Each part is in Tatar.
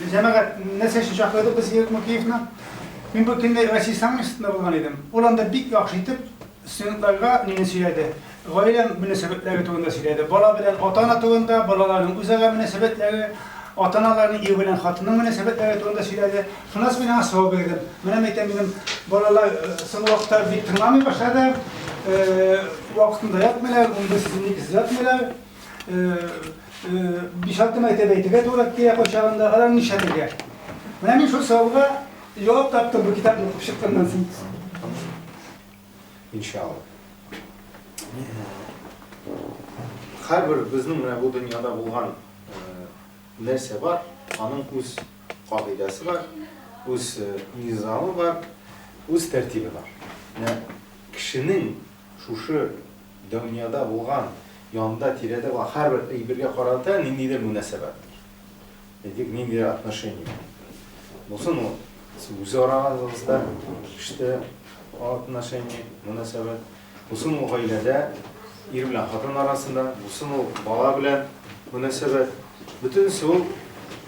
Җәмәгать, нәрсә өчен чакырдык без Ирек Мукеевны? Мин бу көнне Россия саммитында булган идем. Ул анда бик яхшы итеп студентларга мине сөйләде. Гаилә мөнәсәбәтләре турында сөйләде. Бала белән ата-ана турында, балаларның үзара мөнәсәбәтләре, ата-аналарның ир белән хатынның мөнәсәбәтләре турында сөйләде. Шунысы мин аңа сорау бирдем. Менә мәйтәм минем балалар соңгы вакытта бик тыңламый башлады. Вакытында ятмыйлар, унбер сүзне икесез ятмыйлар. Биш-алты мәртәбә әйтергә туры килә кайчагында. Алар нишләтергә? Менә мин шул сорауга җавап таптым бу китапны укып чыкканнан соң. Иншалла. Һәрбер безнең менә бу дөньяда булган нәрсә бар, аның үз кагыйдәсе бар, үз низамы бар, үз тәртибе бар. Менә кешенең шушы дөньяда булган, янында, тирәдә булган һәрбер әйбергә карата ниндидер мөнәсәбәт бар. Әйтик, ниндидер отношение булсын ул, үзара арагызда, эштә отношение, мөнәсәбәт, Бусын ул гаиләдә, ир белән хатын арасында, бусын ул бала белән мөнәсәбәт. Бөтенесе ул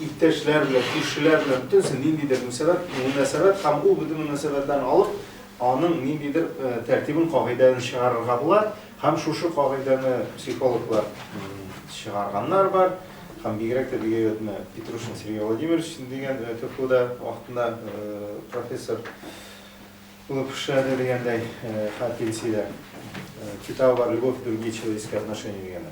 иптәшләр белән, күршеләр белән, бөтенесе ниндидер мөнәсәбәт, мөнәсәбәт һәм ул бөтен мөнәсәбәтләрне алып, аның ниндидер тәртибен, кагыйдәен чыгарырга була һәм шушы кагыйдәне психологлар чыгарганнар бар һәм бигрәк тә бик әйбәт менә Петрушин Сергей Владимирович дигән КФУда вакытында профессор. Лапша да дигәндәй, хәл пенсиядә. Китабы бар Любовь и другие человеческие отношения дигәне.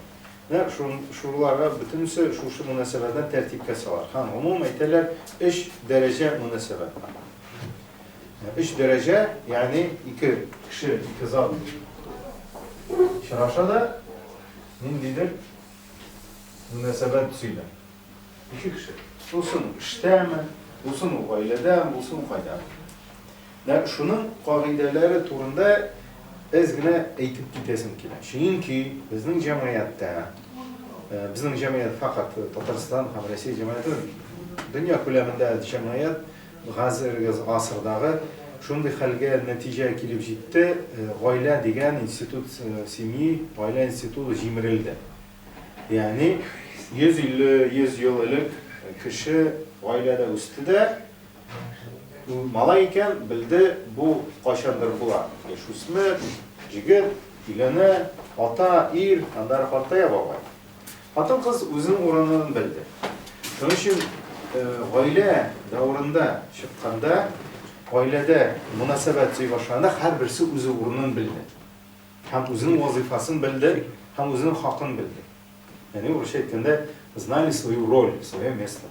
Менә шуларга бөтенесе шушы мөнәсәбәтләр тәртипкә сала. Һәм гомумән әйтәләр, өч дәрәҗә мөнәсәбәт. Өч дәрәҗә, ягъни ике кеше, ике зат очраша да, ниндидер мөнәсәбәт төзиләр. Ике кеше. Булсын эштәме, булсын ул гаиләдә, булсын кайда. Менә шуның кагыйдәләре турында әз генә әйтеп китәсем килә. Чөнки безнең җәмгыятьтә, э, безнең җәмгыять факат Татарстан һәм Россия җәмгыяте, дөнья күләмендә җәмгыять хәзерге гасырдагы шундый хәлгә нәтиҗә килеп җитте, э, гаилә дигән институт, э, семьи, гаилә институты җимерелде. Ягъни 150-100 ел элек кеше гаиләдә үсте дә, малай икән, белде, бу кайчандыр була. Яшүсмер, җегет, өйләнә, ата, ир, аннары картая бабай. Хатын-кыз үзенең урынын белде. Шуның өчен гаилә дәврында чыкканда, гаиләдә мөнәсәбәт сөй башланды, һәрберсе үзе урынын белде. Һәм үзенең вазыйфасын белде, һәм үзенең хакын белде. Ягъни урысча әйткәндә, знали свою роль, свое место.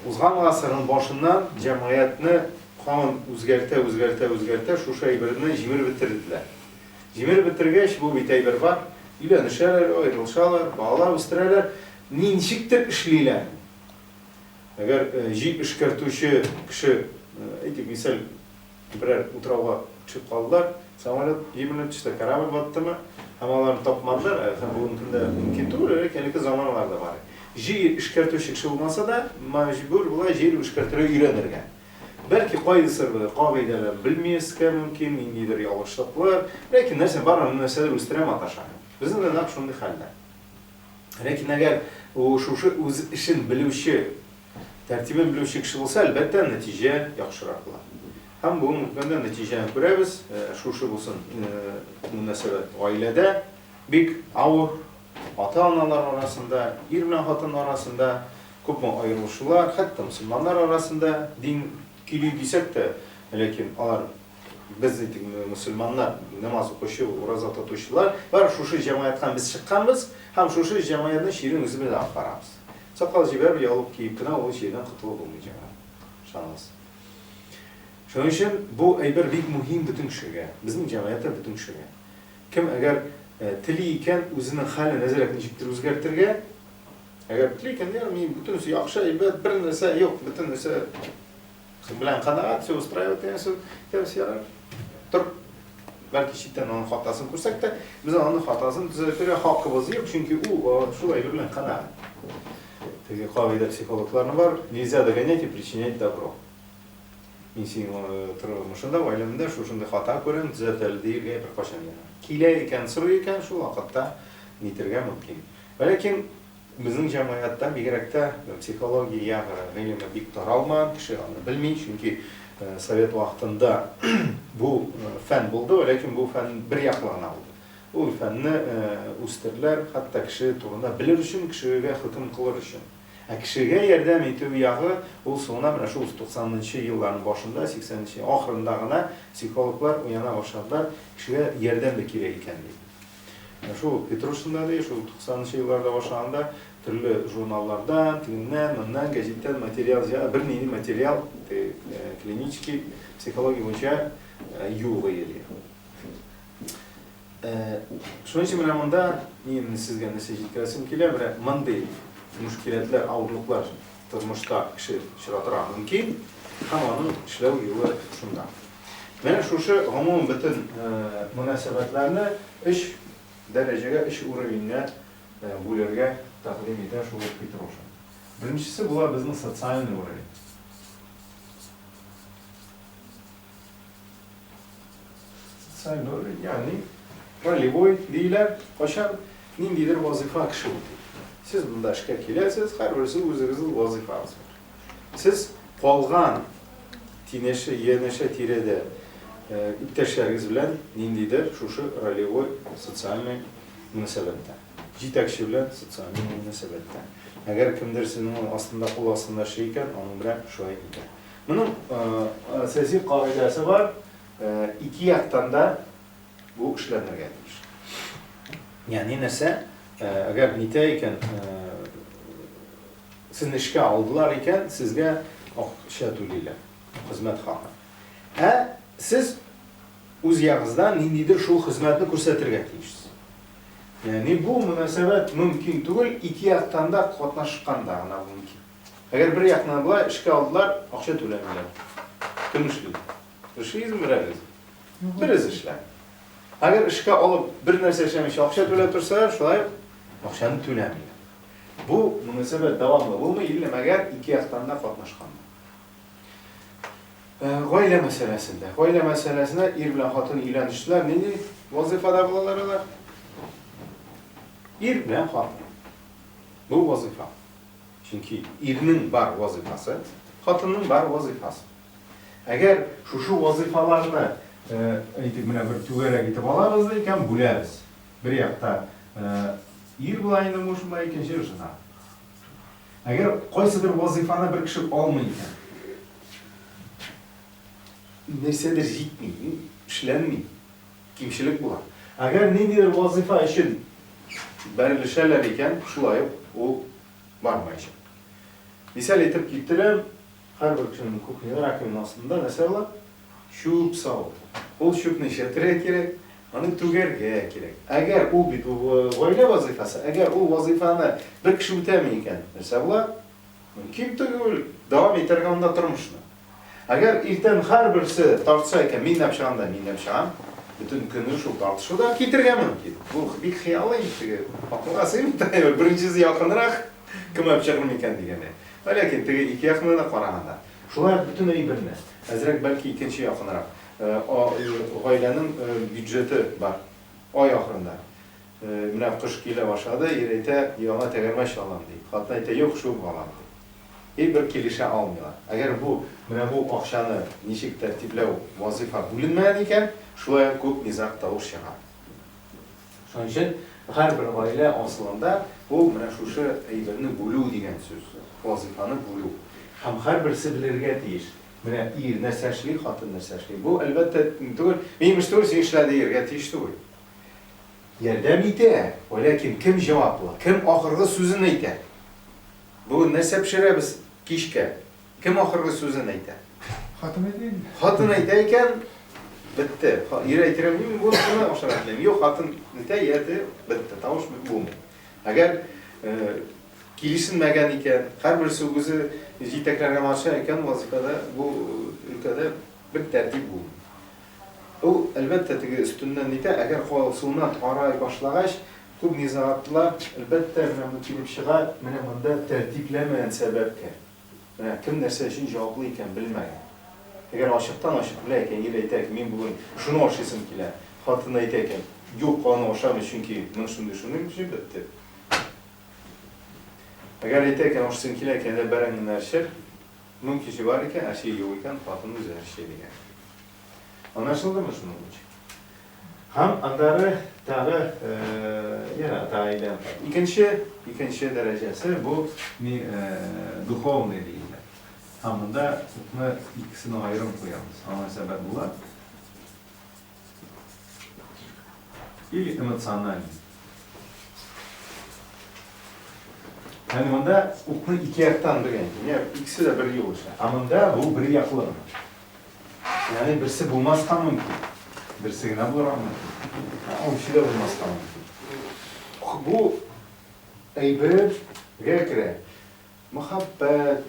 Узган гасырның башыннан җәмгыятьне канун үзгәртә, үзгәртә, үзгәртә шушы әйберне җимереп бетерделәр. Җимереп бетергәч, бу бит әйбер бар, өйләнешәләр, аерылышалар, балалар үстерәләр, ничектер эшлиләр. Әгәр җи эшкәртүче кеше, әйтик, мисал, Берәр утрауга төшеп калдылар, самолет җимерелеп төште, корабль баттымы, һәм аларны тапмадылар, һәм бүгенге көндә мөмкин түгел, элек әлеге заманаларда бар иде. Җир эшкәртүче кеше булмаса да, мәҗбүр була җир эшкәртергә өйрәнергә. Бәлки кайсы бер кагыйдәләрне белмияскә мөмкин, ниндидер ялгышлыклар, ләкин нәрсә бар, андый нәрсәләр үстерә маташа. Безнең дә нәкъ шундый хәлдә. Ләкин әгәр шушы үз эшен белүче Тәртибен белүче кеше булса, әлбәттә, нәтиҗә яхшырак була. Һәм бүген үткәндә нәтиҗәне күрәбез, шушы булсын мөнәсәбәт гаиләдә бик авыр, ата-аналар арасында, ир белән хатын арасында күпме аерылышулар, хәтта мөселманнар арасында дин кили дисәк тә, ләкин алар без әйтик, мөселманнар, намаз укучы, ураза тотучылар, бар шушы җәмгыятьтән без чыкканбыз һәм шушы җәмгыятьнең чирен үзебез алып барабыз. Сакал җибәреп, яулык киеп кенә ул чирдән котылып булмый, җәмәгать. Ышаныгыз. Шуның өчен бу әйбер бик мөһим бөтен кешегә, безнең җәмгыятьтә бөтен кешегә. Кем әгәр тели икән, үзенең хәлен әзрәк ничектер үзгәртергә, әгәр тели икән, ягъни бөтенесе яхшы, әйбәт, бер нәрсә юк, бөтен нәрсә Кыз белән канәгать, все устраивает дигән сүз. Дөрес ярар. Тор. Бәлки читтән аның хатасын күрсәк тә, без аның хатасын төзәтергә хакыбыз юк, чөнки ул шул әйбер белән канәгать. Теге кагыйдә психологларның бар, нельзя догонять и причинять добро. Мин синең тормышында, гаиләмдә шушындый хата күрәм, төзәтәл диергә беркайчан ярамый. Килә икән, сорый икән, шул вакытта нитергә мөмкин. Ләкин Безнең җәмгыятьтә, бигрәк тә психология гыйлеме бик таралмаган, кеше аны белми, чөнки совет вакытында бу фән булды, ләкин бу фән бер яклы гына булды. Ул фәнне үстерделәр, хәтта кеше турында белер өчен, кешегә хөкем кылыр өчен. Ә кешегә ярдәм итү ягы, ул соңына менә шул туксанынчы елларның башында, сиксәненче ахырында гына психологлар уяна башладылар, кешегә ярдәм дә кирәк икән дип. Ә шул Петрушинда ди, шул туксанынчы елларда башлаганда төрле журналлардан, тегеннән, моннан, гәҗиттән материал җыйган, бернинди материал теге клинический психология буенча юк иде. Шуның өчен менә монда мин сезгә нәрсә җиткерәсем килә, менә мондый мушкиләтләр, авырлыклар тормышта кеше очратырга мөмкин, һәм аның эшләү юлы шунда. Менә шушы гомум бөтен мөнәсәбәтләрне өч дәрәҗәгә, өч уровеньгә бүләргә тәкъдим итә шул ук Петрушин. Беренчесе була безнең социальный уровень. Социальный уровень, ягъни ролевой диләр, кайчан ниндидер вазыйфа кеше үти. Сез монда эшкә киләсез, һәрберсе үзегезнең вазыйфагыз бар. Сез калган тинеше, янәшә тирәдә иптәшләрегез белән ниндидер шушы ролевой, социальный мөнәсәбәттә, җитәкче белән социальный мөнәсәбәттә. Әгәр кемдер сезнең астында, кул астында эшли икән, аның белән шулай итә. Моның сәяси кагыйдәсе бар, ике яктан да бу эшләнергә тиеш. Ягъни нәрсә, әгәр нитә икән, Сен эшкә алдылар икән, сезгә акча түлиләр, хезмәт хакы. Ә сез үз ягыгыздан ниндидер шул хезмәтне күрсәтергә тиешсез. Ягъни бу мөнәсәбәт мөмкин түгел, ике яктан да катнашканда гына бу мөмкин. Әгәр бер яктан болай, эшкә алдылар, акча түләмиләр. Кем эшли? Эшлисезме берәрегез? Берез эшләми. Әгәр эшкә алып, бер нәрсә эшләмичә акча түләп торсалар, шулай ук акчаны түләмиләр. Бу мөнәсәбәт дәвамлы булмый или мәгәр ике яктан да катнашканда. Э, гаилә мәсьәләсендә. Гаилә мәсьәләсенә ир белән хатын өйләнештеләр. Нинди вазифада булалар алар? Ир белән хатын. Бу вазифа. Чөнки ирнең бар вазифасы, хатынның бар вазифасы. Әгәр шушы вазифаларны э, әйтик, менә бер түгәрәк итеп алабыз да икән, бүләбез. Бер якта ир була инде мужмы, икенче жена. Әгәр кайсыдыр вазыйфаны бер кеше алмый икән, нәрсәдер җитми, эшләнми, кимчелек була. Әгәр ниндидер вазыйфа өчен бәрелешәләр икән, шулай ук ул бармаячак. Мисал итеп китерәм, Һәрбер кешенең кухняда раковина астында нәрсә була? Чүп савыт. Ул чүпне эшәтергә кирәк, аны түгәргә кирәк. Әгәр ул бит гаилә вазыйфасы, әгәр ул вазыйфаны бер кеше үтәми икән, нәрсә була? Мөмкин түгел дәвам итәргә анда тормышны. Әгәр иртән һәрберсе тартса икән, мин нәп чыгам да, мин нәп чыгам, бөтен көнне шул тартышуда китергә мөмкин. Бу бик хыялый, теге акылга сыймый, беренчесе якынрак, кем әп чыгыр микән дигәндәй. Ә ләкин теге ике якны да караганда. Шулай ук бөтенләй бер мә. Әзрәк, бәлки икенче якынрак. О, гаиләнең бюджеты бар. Ай ахырында. Менә кыш килә башлады, ир әйтә, яңа тәгәрмәч алам, ди. Хатын әйтә, юк, шул балам, ди. И бер килешә алмыйлар. Әгәр бу, менә бу акчаны ничек тәртипләү вазыйфа бүленмәгән икән, шулай ук күп низаг тавыш чыга. Шуның өчен һәрбер гаилә асылында ул менә шушы әйберне бүлү дигән сүз, вазыйфаны бүлү. Һәм һәрберсе белергә тиеш, менә ир нәрсә эшли, хатын нәрсә эшли. Бу, әлбәттә, түгел, мин имеш түгел, син эшлә диергә тиеш түгел. Ярдәм итә, вәләкин кем җаваплы, кем ахыргы сүзен әйтә? Бүген нәрсә пешерәбез кичкә? Кем ахыргы сүзен әйтә? Хатын әйтә инде. Хатын әйтә икән, бетте. Ир әйтергә мөмкин бу шуны ашарга телим. Юк, хатын әйтә, яте, бетте. Тавыш бит булмый. Әгәр э, килешенмәгән икән, һәрберсе үзе җитәкләргә маташа икән, вазифада бу өлкәдә бер тәртип булмый. Ул, әлбәттә, теге өстеннән нитә, әгәр калсуына карай башлагач, күп низагатлар, әлбәттә, менә бу килеп чыга, менә монда тәртипләмәгән сәбәпкә. Менә кем нәрсә өчен җаваплы икәнен белмәгән. Әгәр ачыктан-ачык белә икән, ир әйтә икән, мин бүген шуны ашыйсым килә, хатыны әйтә икән, юк, аны ашамыйм, чөнки мин шундый, шундый, җеп бетте. Әгәр әйтә икән, ашыйсым килә икән, әллә бәрәңгене әрчер, мөмкинчелеге бар икән, әрчеге юк икән, хатыны үзе әрчи дигән. Анашылдымы шуның өчен? Һәм аннары тагы ярата әйлән. Икенче, икенче дәрәҗәсе бу ни духовный диелә. Һәм монда укны икесен аерым куябыз. Аңа сәбәп була. Или эмоциональный. Һәм монда укны ике яктан белгән. Икесе дә бер юлыша. Ә монда бу бер яклы. Ягъни берсе булмаска мөмкин, берсе генә булырга мөмкин. Ул икесе дә булмаска мөмкин. Бу әйбергә керә. Мәхәббәт,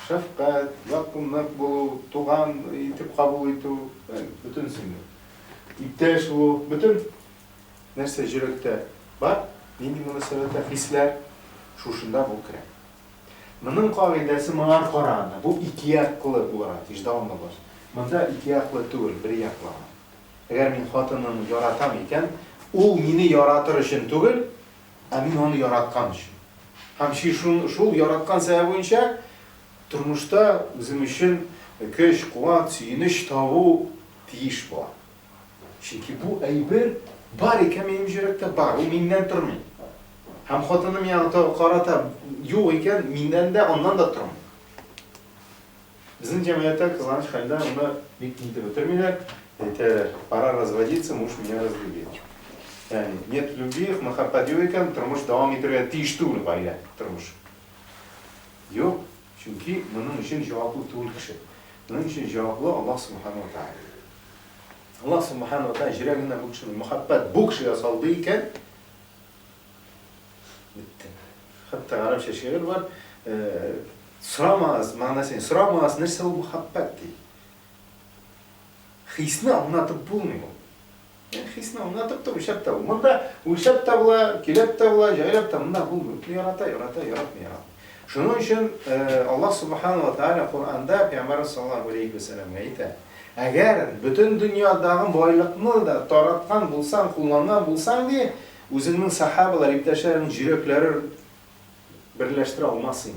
шәфкать, якынлык булу, туган итеп кабул итү, бөтенесен дә. Иптәш булу, бөтен нәрсә йөрәктә бар, нинди мөнәсәбәттә хисләр, шушында бу керә. Моның кагыйдәсе моңар караганда, бу икеяклы булырга тиеш, дәвамлы баш. Монда икеяклы түгел, берьяклы гына. Әгәр мин хатынымны яратам икән, ул мине яратыр өчен түгел, ә мин аны яраткан өчен. Һәм шул яраткан сәбәп буенча тормышта үзем өчен көч, куат, сөенеч табу тиеш була. Чөнки бу әйбер бар икән минем җөрәктә, бар, ул миннән тормый. Һәм хатыны миңа тагы карата юк икән, миннән дә, аннан да тормый. Безнең җәмгыятьтә кызганыч хәлдә аны бик тиз итеп бетермиләр, әйтәләр, пора разводиться, муж меня разлюбил. Ягъни, нет любви, мәхәббәт юк икән, тормыш дәвам итәргә тиеш түгел гаилә, тормыш. Юк. Чөнки моның өчен җаваплы түгел кеше. Моның өчен җаваплы Аллаһ Субхана уа Тааля. Аллаһ Субхана уа Тааля җөрәгенә бу кешенең мәхәббәт бу кешегә салды икән, бетте. Хәтта гарәпчә шигырь бар, сорамагыз, мәгънәсен сорамагыз, нәрсә ул мәхәббәт ди. Хисне аңлатып булмый ул. Хисне аңлатып та, үлчәп тә бу. Монда үлчәп тә була, киләп тә була, җайлап та. Монда бу мөмкин ярата, ярата, яратмый, яратмый. Шуның өчен Аллаһ Субхану ва Тааля Коранда Пәйгамбәр саллаллаһу алейхи ва сәлламгә әйтә. Әгәр бөтен дөньядагы байлыкны да тараткан булсаң, кулланган булсаң, ди, үзеңнең сахабалар, иптәшләреңнең йөрәкләре берләштерә алмассың.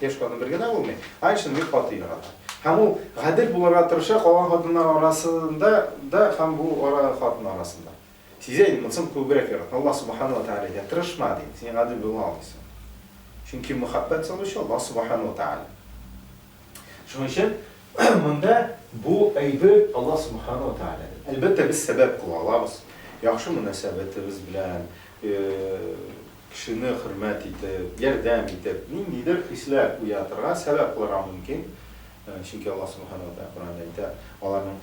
Яшь хатын бер генә булмый, ай эчендә бик каты ярата. Һәм ул гадел булырга тырыша калган хатыннар арасында да һәм бу ара хатын арасында. Сизә инде, монсын күбрәк яратам. Аллаһ Субхана ва Тәгалә әйтә, тырышма, ди, син гадел була алмыйсың. Чөнки мәхәббәт салучы Аллаһ Субхана ва Тәгалә. Шуның өчен монда бу әйбер Аллаһ Субхана ва Тәгалә. Әлбәттә, без сәбәп кыла алабыз. Яхшы мөнәсәбәтебез белән, Кешене хөрмәт итеп, ярдәм итеп, ниндидер хисләр уятырга сәбәп кылырга мөмкин, чөнки Аллаһ Сүбхәнәһү вә Тәгалә Коръәндә әйтә, аларның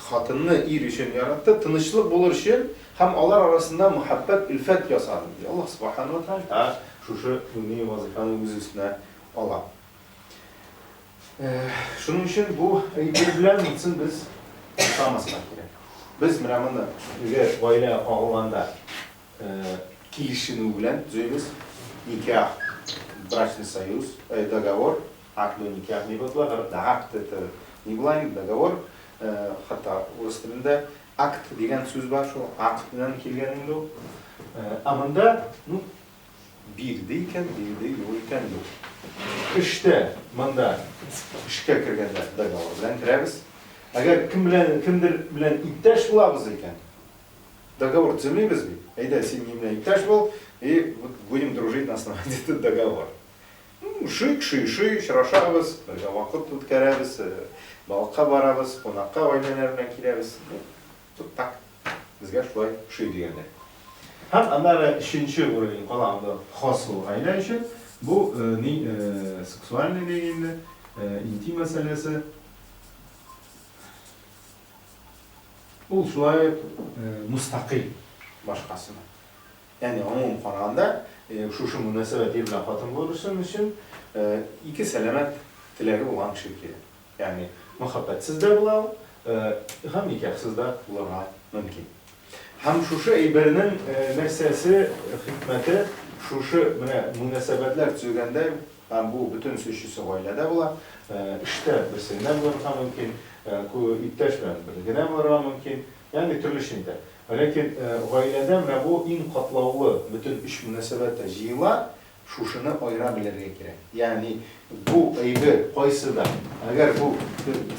хатынны ир өчен яратты, тынычлык булыр өчен һәм алар арасында мәхәббәт, өлфәт ясады, ди. Аллаһ Сүбхәнәһү вә Тәгалә шушы мөһим вазыйфаны үз өстенә ала. Шуның өчен бу әйбер белән митсын без тотамызга кирәк. Без менә моны үзе гаилә агылганда килешенү белән төзибез. Никах, брачный союз, договор, акт на никах дип атала. Акт это не блайн, договор. Хәтта урыс телендә акт дигән сүз бар, шул акт белән килгән инде ул. Ә монда, ну, Бирде икән, бирде юк икән юк. Эштә, монда эшкә кергәндә договор белән керәбез. Әгәр кем белән, кемдер белән иптәш булабыз икән, договор төземибез бит. Әйдә, син минем белән иптәш бул, и вот будем дружить на основании этого договора. Шик, ши, ши, очрашабыз, бергә вакыт үткәрәбез, балыкка барабыз, кунакка гаиләләр белән киләбез. Вот так. Безгә шулай ошый дигәннәр. Һәм аннары өченче уровень кала анда хасл гаилә өчен. Бу ни сексуальный ни инде, интим мәсьәләсе. Ул шулай мустакыйль башкасына. Ягъни гомум караганда, шушы мөнәсәбәт ир белән хатын булыр өчен ике сәламәт теләге булган кеше кирәк. Ягъни, мәхәббәтсез дә була ул, һәм никахсыз да булырга мөмкин. Һәм шушы әйбернең нәрсәсе, хикмәте, шушы менә мөнәсәбәтләр төзегәндә, һәм бу бөтен сөчесе гаиләдә була, эштә берсе генә булырга мөмкин, иптәш белән бер генә булырга мөмкин, ягъни төрлечә инде. Ләкин гаиләдә менә бу иң катлаулы бөтен өч мөнәсәбәт тә җыела, Шушыны аера белергә кирәк. Ягъни бу әйбер кайсы да, әгәр бу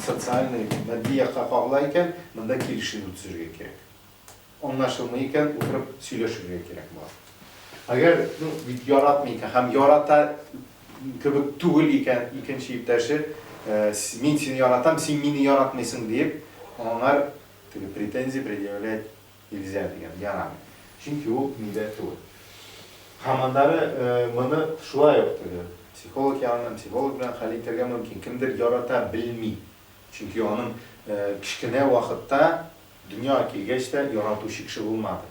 социальный, матди якка кагыла икән, монда килешенү төзергә кирәк. Аңлашылмый икән, утырып сөйләшергә кирәк була. Әгәр, ну, бит яратмый икән һәм ярата кебек түгел икән икенче иптәше, мин сине яратам, син мине яратмыйсың диеп, аңар теге претензия предъявлять Илзә дигән, ярамый. Чөнки ул милләт түгел. Һәм аннары моны шулай ук теге психолог яныннан, психолог белән хәл итәргә мөмкин. Кемдер ярата белми. Чөнки аның кечкенә вакытта дөньяга килгәч тә яратучы кеше булмады.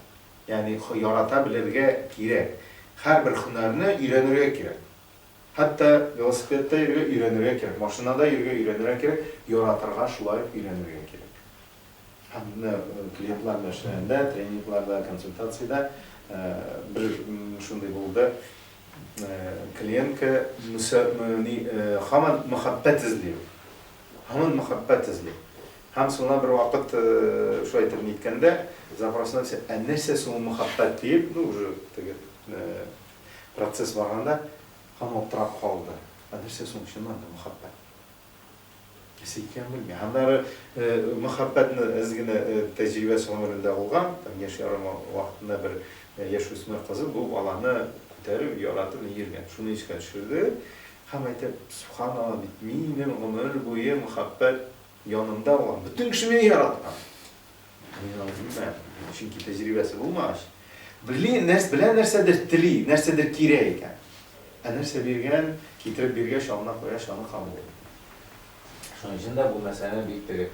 Ягъни ярата белергә кирәк. Һәрбер һөнәрне өйрәнергә кирәк. Хәтта велосипедта йөрергә өйрәнергә кирәк, машинада йөрергә өйрәнергә кирәк, яратырга шулай ук өйрәнергә кирәк. Һәм менә клиентлар белән эшләгәндә, тренингларда, консультациядә бер шундый булды. Клиентка һаман мәхәббәт эзли ул. Һаман мәхәббәт эзли. Һәм соңыннан бер вакыт шулай итеп ниткәндә, запросына төшә, ә нәрсә соң ул мәхәббәт диеп, ну уже теге процесс барганда, һаман аптырап калды. Ә нәрсә соң чыннан да мәхәббәт? Нәрсә икәнен белмим. Аннары мәхәббәтне әз генә тәҗрибәсе гомерендә булган, там яшь ярым вакытында бер яшүсмер кызы бу баланы күтәреп, яратып ни йөргән. Шуны искә төшерде һәм әйтә, Субханалла, бит минем гомер буе мәхәббәт янымда булган, бөтен кеше мине яраткан. Мин алай димәм. Чөнки тәҗрибәсе булмагач. Бли, нәрс, белә нәрсәдер тели, нәрсәдер кирәк икән. Ә нәрсә биргән, китереп биргәч, алына куя, шаны кабул итә. Шуның өчен дә бу мәсьәләне бик теге,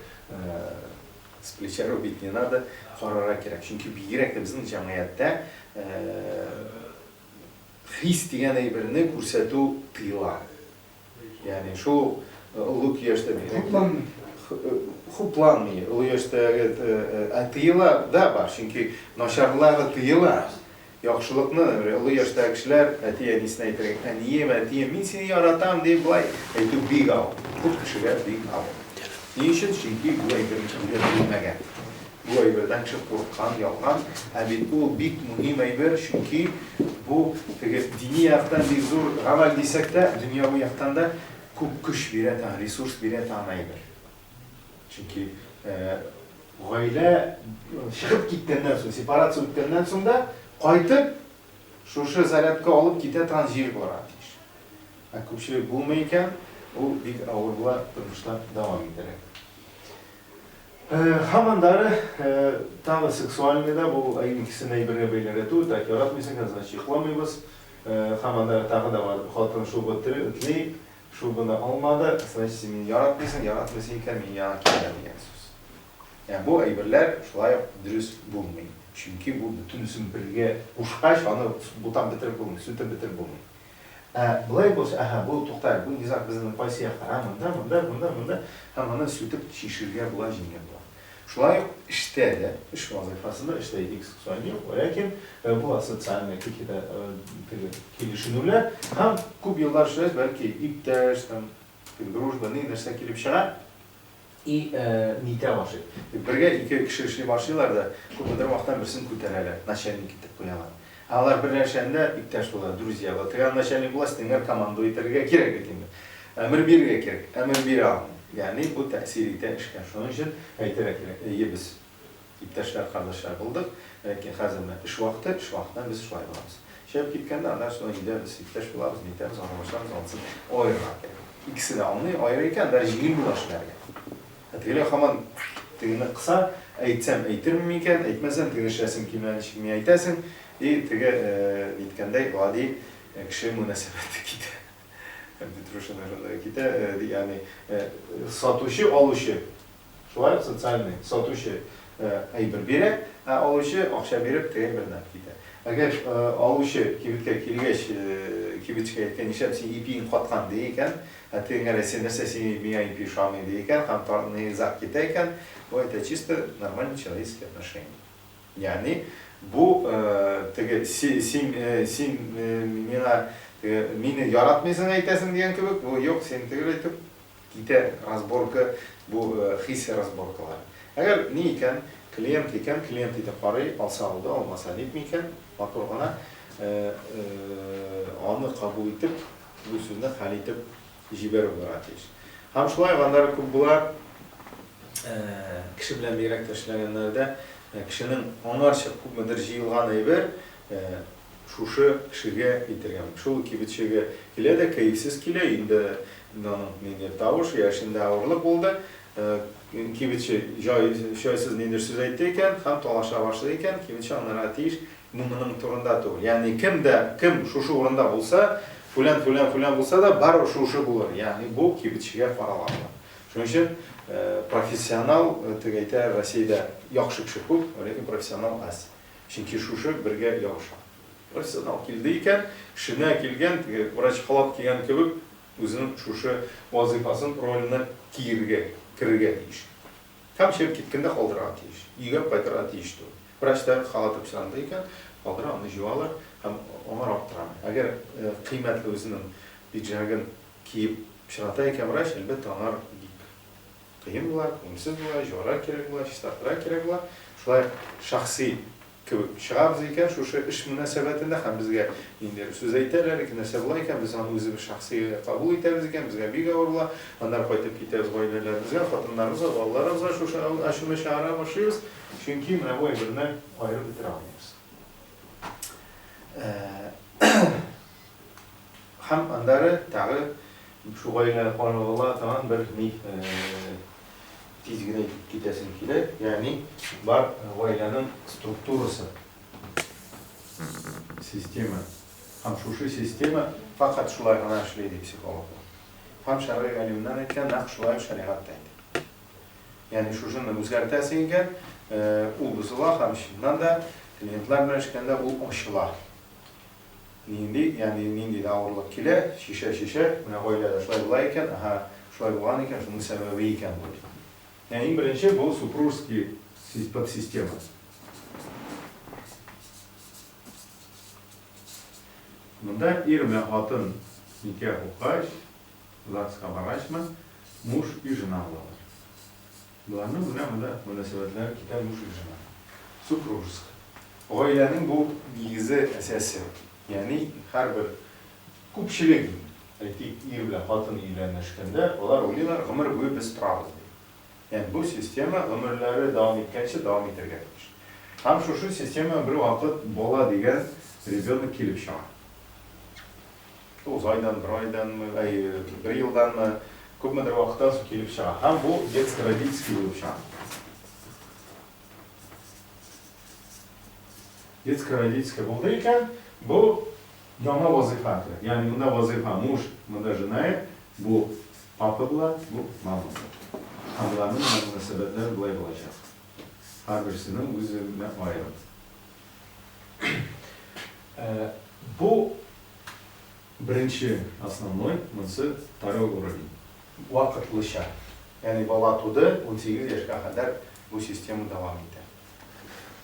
с плеча рубить не надо, карарга кирәк. Чөнки бигрәк тә безнең җәмгыятьтә хис дигән әйберне күрсәтү тыела. Ягъни шул олуг яшьтә хупланмый. Хупланмый. Олуг яшьтәге ә тыела да бар, чөнки начарлары тыела. Яхшылыкны олуг яшьтәге кешеләр әти-әнисенә әйтергә, әнием, әтием, мин сине яратам дип былай әйтү бик авыр. Күп кешегә бик авыр. Ни өчен? Чөнки бу әйберне белмәгән. Бу әйбердән чү курыккан, ялган, ә бит ул бик мөһим әйбер, чөнки бу теге дини яктан бик зур гамәл дисәк тә, дөньяви яктан да күп көч бирә тагын, ресурс бирә тагын әйбер. Чөнки гаилә чыгып киткәннән соң, сепарация үткәннән соң да кайтып шушы зарядка алып китә тагын җир булырга тиеш. Ә күпчелек булмый икән, ул бик авыр була, тормышта дәвам итәргә. Һәм аннары тагы сексуальный да бу икесен әйбергә бәйләргә түгел, так яратмыйсың икән, значит йокламыйбыз. Һәм аннары тагы да бар, хатын шугы тли, шугыны алмады, значит син мине яратмыйсың, яратмыйсың икән мин яңа килгән дигән сүз. Ә бу әйберләр шулай ук дөрес булмый. Чөнки бу бөтенесен бергә кушкач аны бутап бетереп булмый, сүтеп бетереп булмый. Ә болай булса, әһә, бу, туктале, бу низаг безнең кайсы яклар, ә, монда, монда, монда, монда, һәм моны сүтеп чишергә була, җиңел була. Шулай ук эштә дә, эш вазыйфасында, эштә икс социаль юк, ләкин бу асоциальный какие-то теге килешенүләр һәм күп еллар эшләгәч, бәлки иптәш, там, дружба, ни нәрсә килеп чыга, И э никә ашый. Бергә ике кеше эшли башлыйлар да, күпмедер вакыттан берсен күтәрәләр, начальник итеп куялар. Ә алар берләшәндә иптәш булалар, друзья булалар. Теге начальник була, стенгә командуй итәргә кирәк бит инде. Әмер бирергә кирәк, әмер бирә алмый. Ягъни бу тәэсир итә эшкә. Шуның өчен әйтергә кирәк, әйе без. Иптәшләр, кардәшләр булдык. Ләкин хәзер менә эш вакыты, эш вакытында без шулай булабыз. Чыгып киткәндә, аннан соң өйдә без иптәш булабыз, нитәбез, аралашабыз, ансын аерырга кирәк. Икесе дә аңлый, аерыр икән, даже җиңел була эшләргә. Ә тегеләр һаман тегене кыса, әйтсәм әйтермен микән, әйтмәсәм тегене эшләсең килмәгән ничек миңа әйтәсең, и теге әйткәндәй гади кеше мөнәсәбәте китә. Петрушина шунда китә, ягъни сатучы, алучы. Шулай ук социальный, сатучы әйбер бирә, ә алучы акча биреп теге бернәрне китә. Әгәр алучы кибеткә килгәч, кибетчегә әйткән, нишләп син ипиең каткан ди икән, ә теге нәрсә, нәрсә син миңа ипи ошамый ди икән һәм низаг китә икән, бу это чисто нормальный человеческий отношение. Ягъни бу теге син син миңа мине яратмыйсың әйтәсең дигән кебек, бу юк, син төгәл әйтеп Китә разборка бу хисси разборкалар. Әгәр ни икән, клиент икән, клиент иде карый, алса алды, алмаса нитми икән, матур гына аны кабул итеп, бу сүзне хәл итеп җибәрү булырга тиеш. Һәм шулай гандары күп була, кеше белән бигрәк тә эшләгәннәрдә, кешенең аңарчы күпмедер җыелган әйбер, Шушы кешегә әйтергәме, шул кибетчегә? Килә дә кәефсез килә, инде аның ниндидер тавышы я эшендә авырлык булды, кибетче җайсыз ниндидер сүз әйтте икән һәм талаша башлый икән, кибетче аңларга тиеш, бу моның турында түгел. Ягъни кем дә кем шушы урында булса, фүлән, фүлән, фүлән булса да, барыбер шушы булыр. Ягъни бу кибетчегә карала була. Шуның өчен профессионал, теге әйтә, Россиядә яхшы кеше күп, ләкин профессионал аз. Чөнки шушы бергә ябыша. Бер сигнал килде икән, эшенә килгән, теге врач халат кигән кебек, үзенең шушы вазыйфасын, роленә тиергә, керергә тиеш. Һәм чыгып киткәндә калдырырга тиеш. Өйгә кайтырга тиеш түгел. Врачтар халаты пычранда икән, калдыра, аны җуалар һәм аңар аптырамый. Әгәр кыйммәтле үзенең пиджагын киеп пычрата икән врач, әлбәттә, аңар бик. Кыен була, күңелсез була, җуарга кирәк була, чистартырга кирәк була. Шулай ук шәхси кебек чыгабыз икән, шушы эш мөнәсәбәтендә һәм безгә ниндидер сүз әйтәләр икән, нәрсә була икән, без аны үзебез шәхси кабул итәбез икән, безгә бик авыр була. Аннары кайтып китәбез гаиләләребезгә, хатыннарыбызга, балаларыбызга шушы ачуны чыгара башлыйбыз, чөнки менә бу әйберне аерып бетерә алмыйбыз. Һәм аннары тагы шул гаиләне каныгыла тагын бер ни тиз генә итеп китәсем килә, ягъни бар гаиләнең структурасы, система. Һәм шушы система фәкать шулай гына эшли, ди психологлар. Һәм шәргый галимнәр әйткән, нәкъ шулай ук шәригать тә әйтә. Ягъни шушыны үзгәртәсең икән, ул бозыла һәм чыннан да клиентлар белән эшләгәндә ул ачыла. Нинди, ягъни нинди дә авырлык килә, чишә, чишә, менә гаиләдә шулай була икән, аһа, шулай булган икән, шуның сәбәбе икән бу. Ә иң беренче бу супружеский подсистема. Монда ир менә хатын никях укыгач, ЗАГСка баргачмы, муж и жена булалар. Боларның менә монда мөнәсәбәтләре китә буш режимга. Супружеский. Гаиләнең бу нигезе, әсәсе. Ягъни һәрбер күпчелек, әйтик, ир белән хатын өйләнешкәндә, алар уйлыйлар, гомер буе без торабыз дип. Ягъни бу система гомерләре дәвам иткәнче дәвам итәргә тиеш. Һәм шушы системага бервакыт бала дигән ребенок килеп чыга. Тугыз айдан, бер айданмы, әй, бер елданмы, күпмедер вакыттан соң килеп чыга. Һәм бу детский родительский булып чыга. Детский родительский булды икән, бу яңа вазыйфа керә. Ягъни монда вазыйфа муж, монда жена, бу папа була, бу мама була. Һәм аларның мөнәсәбәтләре болай булачак. Һәрберсенең үз-үзенә аерым. Бу Беренче, основной, монсы второй уровень. Вакытлыча. Ягъни бала туды, унсигез яшькә кадәр бу система дәвам итә.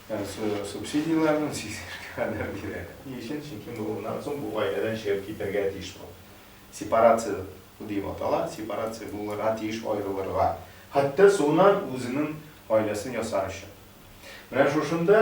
Ягъни субсидияләрне унсигез яшькә кадәр бирә. Ни өчен? Чөнки моннан соң бу гаиләдән чыгып китәргә тиеш бу. Сепарация дип атала. Сепарация булырга тиеш, аерылырга. Хәтта соңыннан үзенең гаиләсен ясар өчен. Менә шушында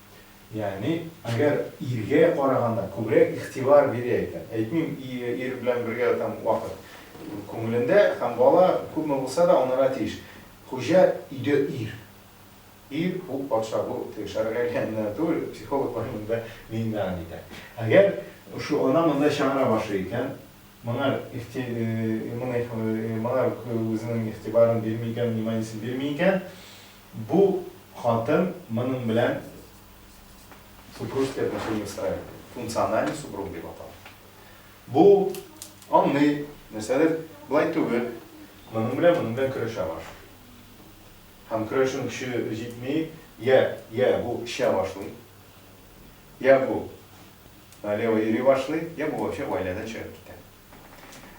Ягъни, әгәр иргә караганда күбрәк игътибар бирә икән, әйтмим, ир белән бергә там вакыт, күңелендә һәм бала күпме булса да анарга тиеш. Хуҗа өйдә ир. Ир, ул патша, бу теге шәргать яныннан түгел, психологлар монда миңнеган итә. Әгәр шул ана монда чыгара башлый икән, моңар ихти моңар үзенең игътибарын бирми икән, вниманиесен бирми икән, Бу хатын моның белән супружеские отношения устраивает. Функциональный супруг дип атала. Бу аңлый, нәрсәдер болай түгел, моның белән моның белән көрәшә башлый. Һәм көрәшүнең көче җитми, йә, йә бу эчә башлый, йә бу налево йөри башлый, йә бу вообще гаиләдән чыгып китә.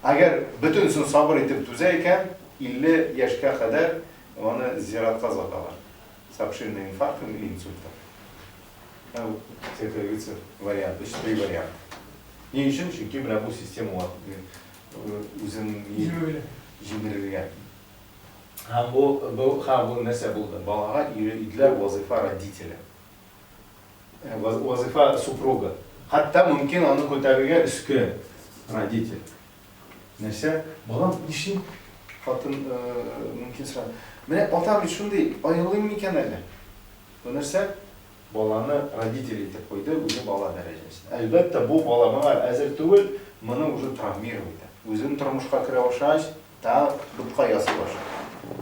Әгәр бөтенесен сабыр итеп түзә икән, 50 яшькә кадәр аны зиратка озаталар. С обширным инфарктом или инсультом. Ә бу циркулируется вариант, өч три вариант. Ни өчен? Чөнки менә бу система ва- э, үзен Җимерелә. җимерелгән. Һәм бу, бу, һәм бу нәрсә булды? Балага өйрә- иделәр вазыйфа родителя. Э, вазифа супруга. Хәтта мөмкин аны күтәрергә өске родитель. Нәрсә? Балам, нишли? Хатын э, мөмкин сорады. Менә атам бит шундый, аерылыйм микән әле? Бу нәрсә? Баланы родитель итеп куйды, үзе бала дәрәҗәсендә. Әлбәттә, бу бала моңа әзер түгел, моны уже травмировать итә. Үзен тормышка керә башлагач, та бутка ясый башлый.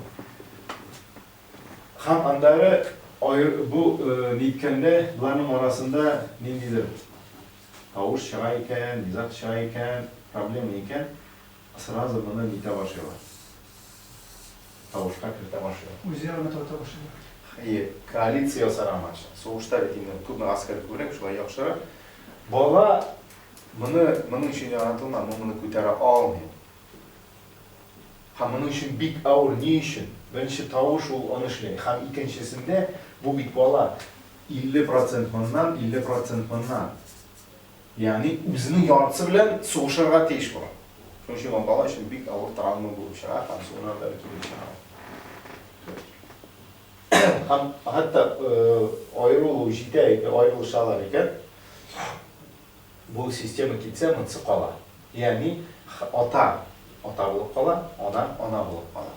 Һәм аннары аер, бу ниткәндә боларның арасында ниндидер тавыш чыга икән, низаг чыга икән, проблема икән, сразу моны нитә башлыйлар, тавышка кертә башлыйлар. Үзе араны тарта башлыйлар. Әйе, коалиция ясарга матча. Сугышта бит инде күпме гаскәр күбрәк, шулай яхшырак. Бала моны моның өчен яратылмаган, ул моны күтәрә алмый. Һәм моның өчен бик авыр, ни өчен? Беренче тавыш ул аны эшли, һәм икенчесендә, бу бит бала, 50 процент моннан, 50 процент моннан, ягъни үзенең яртысы белән сугышырга тиеш була. Шуның өчен ул бала өчен бик авыр травма булып чыга һәм соңыннан да килеп чыга ул. Һәм хәтта аерылу җитә икән, аерылышалар икән, Бу система китсә, монсы кала. Ягъни, ата, ата булып кала, ана, ана булып кала.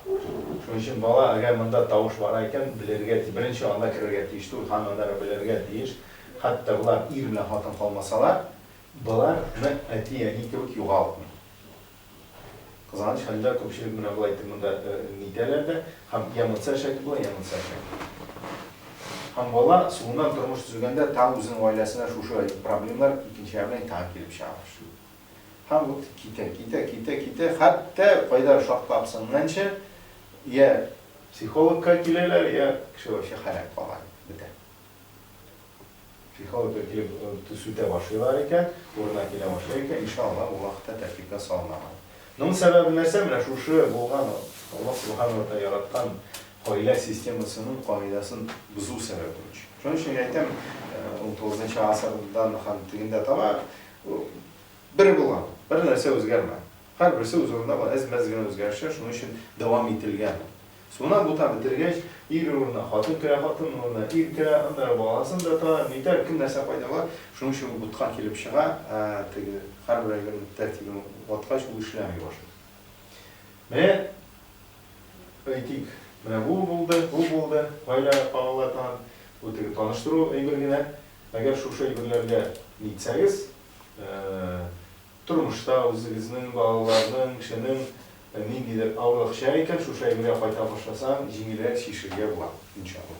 Шуның өчен бала, әгәр монда тавыш бара икән, белергә тиеш. Беренче анда керергә тиеш түгел, һәм аннары белергә тиеш. Хәтта болар ир белән хатын калмасалар, боларны әти-әни кебек югалтмый. Кызганыч хәлдә, күпчелек менә болай итеп монда нитәләр дә, һәм йә монсы әшәке була, йә монсы әшәке. Һәм бала соңыннан тормыш төзегәндә тагы үзенең гаиләсенә шушы проблемалар икенче ягы белән тагы килеп чыга башлый. Һәм вот китә, китә, китә, китә, хәтта кайда шартлап сынганчы, йә психологка киләләр, йә кеше вообще хәләк кала, бетә. Психологлар килеп сүтә башлыйлар икән, урынына килә башлый икән, иншалла, ул вакытта тәртипкә салына ала. Моның сәбәбе нәрсә? Менә шушы булган Аллаһ Субхана ва Тааля яраткан гаилә системасының кагыйдәсен бозу сәбәбе өчен. Шуның өчен мин әйтәм, унтугызынчы гасырдан һәм тегендә таба бер булган, бер нәрсә үзгәрмәгән. Һәрберсе үз урынында булган, әз-мәз генә үзгәрешләр шуның өчен дәвам ителгән. Суны бута бетергәч, ир урынына хатын керә, хатын урынына ир керә, аннары баласын да тар, нитәр, кем нәрсә кайдала, шуның өчен ул бутка килеп чыга, ә теге һәрбер әйбернең тәртибен ваткач, ул эшләми башлый. Менә, әйтик, менә бу булды, бу булды, гаилә каралар тагын, бу теге таныштыру әйбер генә. Әгәр шушы әйберләргә нитсәгез, Тормышта үзегезнең, балаларның, кешенең ниндидер авырлыкча икән, шушы әйбергә кайта башласаң, җиңелрәк чишергә була, иншалла.